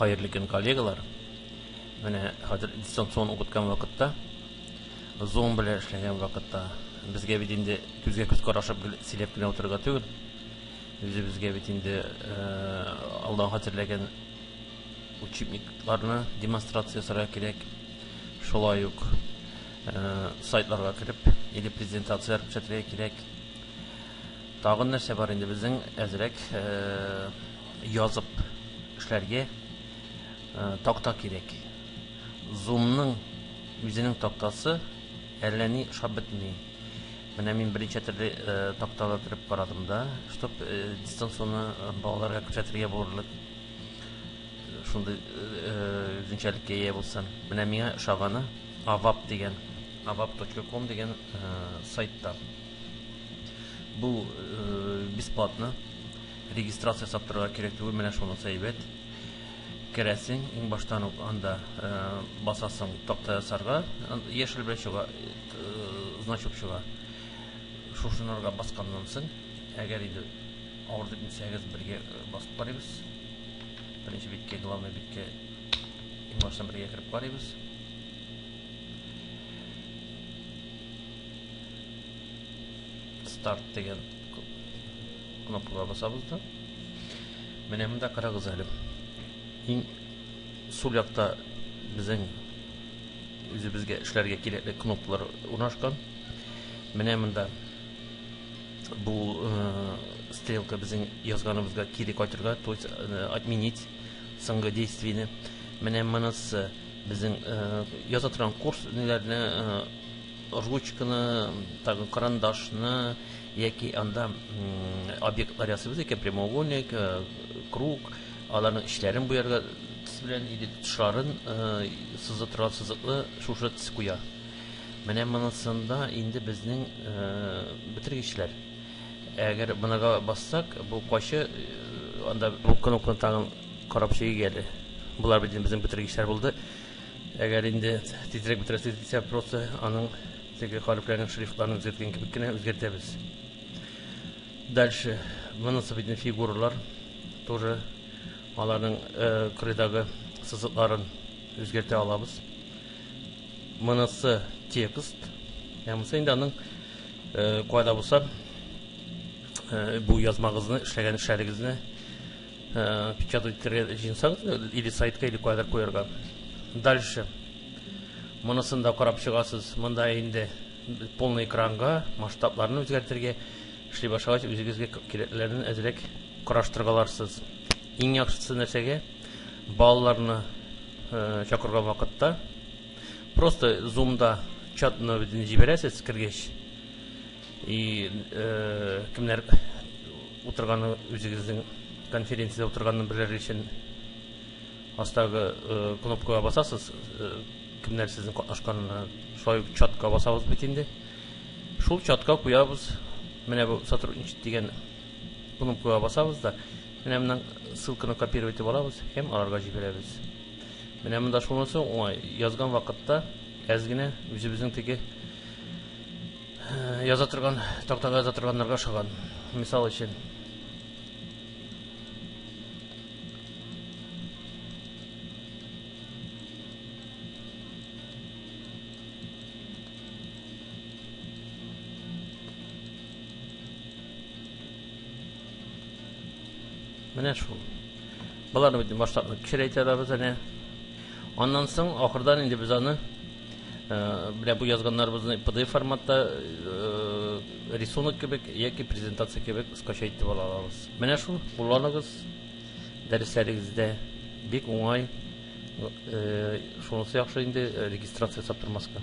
Хәерле көн, коллегалар. Менә хәзер дистанцион укыткан вакытта, Zoom белән эшләгән вакытта безгә бит инде күзгә күз карашып сөйләп кенә утырырга түгел. Үзебезгә бит инде э, алдан хәзерләгән учебникларны демонстрация ясарга кирәк. Шулай ук э, сайтларга кереп, или презентацияләр күрсәтергә кирәк. Тагын нәрсә бар инде безнең әзрәк язып эшләргә такта кирәк. Зумның үзенең тактасы әллә ни шап бетми. Менә мин берничә төрле э, такталы төреп карадым да, чтоб э, дистанционно э, балаларга күрсәтергә булырлык шундый үзенчәлеккә ия булсын. Менә миңа ошаганы Авап дигән, авап.ком дигән сайтта. Бу бесплатно. Регистрация ясап торырга кирәк түгел, менә шунысы әйбәт. Керәсең, иң баштан ук анда басасың такта ясарга, яшел белән чыга, значок чыга. Шушынырга басканнан соң, әгәр инде авыр дип белсәгез, бергә басып карыйбыз. Беренче биткә, главный биткә иң баштан бергә кереп карыйбыз. старт дигән кнопкага басабыз да менә монда карагыз әле иң сул якта безнең үзебезгә эшләргә кирәкле кнопкалар урнашкан менә монда бу э, стрелка безнең язганыбызга кире кайтырга то есть э, отменить соңгы действиене менә монысы безнең э, яза торган курс ниләрне ручканы, тагын карандашны яки анда объектлар ясыйбыз икән, прямоугольник, э, круг, аларның эчләрен буярга төс белән или тышларын э, сызып торган сызыклы шушы төс куя. Менә монысында инде безнең э, бетергечләр. Әгәр монага бассак, бу кайчы анда бу кнопканы тагын карап чигәле. Булар бит безнең бетергечләр булды. Әгәр инде тизрәк бетерәсе дисә, просто аның теге хәрефләрнең шрифтларын үзгәрткән кебек кенә үзгәртәбез. Дальше монысы бит фигуралар тоже аларның э, кырыйдагы сызыкларын үзгәртә алабыз. Монысы текст. Ә монысы инде аның э, кайда булса э, бу язмагызны эшләгән эшләрегезне Э, печатать җинсаң или сайтка или кадәр куярга дальше монысын да карап чыгасыз монда инде полный экранга масштабларын үзгәртергә эшли башлагач үзегезгә кирәклеләрен әзрәк караштырга аларсыз иң яхшысы нәрсәгә балаларны э, чакырган вакытта просто зумда чат номерын җибәрәсез кергәч и э, кемнәр Утырганы үзегезнең конференциядә утырганны белер өчен астагы кнопкага басасыз, кемнәр сезнең катнашканына. Шулай ук чатка басабыз бит инде. Шул чатка куябыз. Менә бу сотрудничать дигән кнопкага басабыз да, менә моннан ссылканы копировать итеп алабыз һәм аларга җибәрәбез. Менә монда шунысы уңай, язган вакытта әз генә үзебезнең теге Яза торган, тактага яза торганнарга ошаган. Мисал өчен. Менә шул. Боларны бит масштабны кечерәйтә да без әнә. Аннан соң ахырдан инде без аны Менә бу язганнарыбызны PDF форматта рисунок кебек яки презентация кебек скачать итеп ала алабыз. Менә шул, кулланыгыз дәресләрегездә. Бик уңай. Шунысы яхшы инде, регистрация ясап тормаска.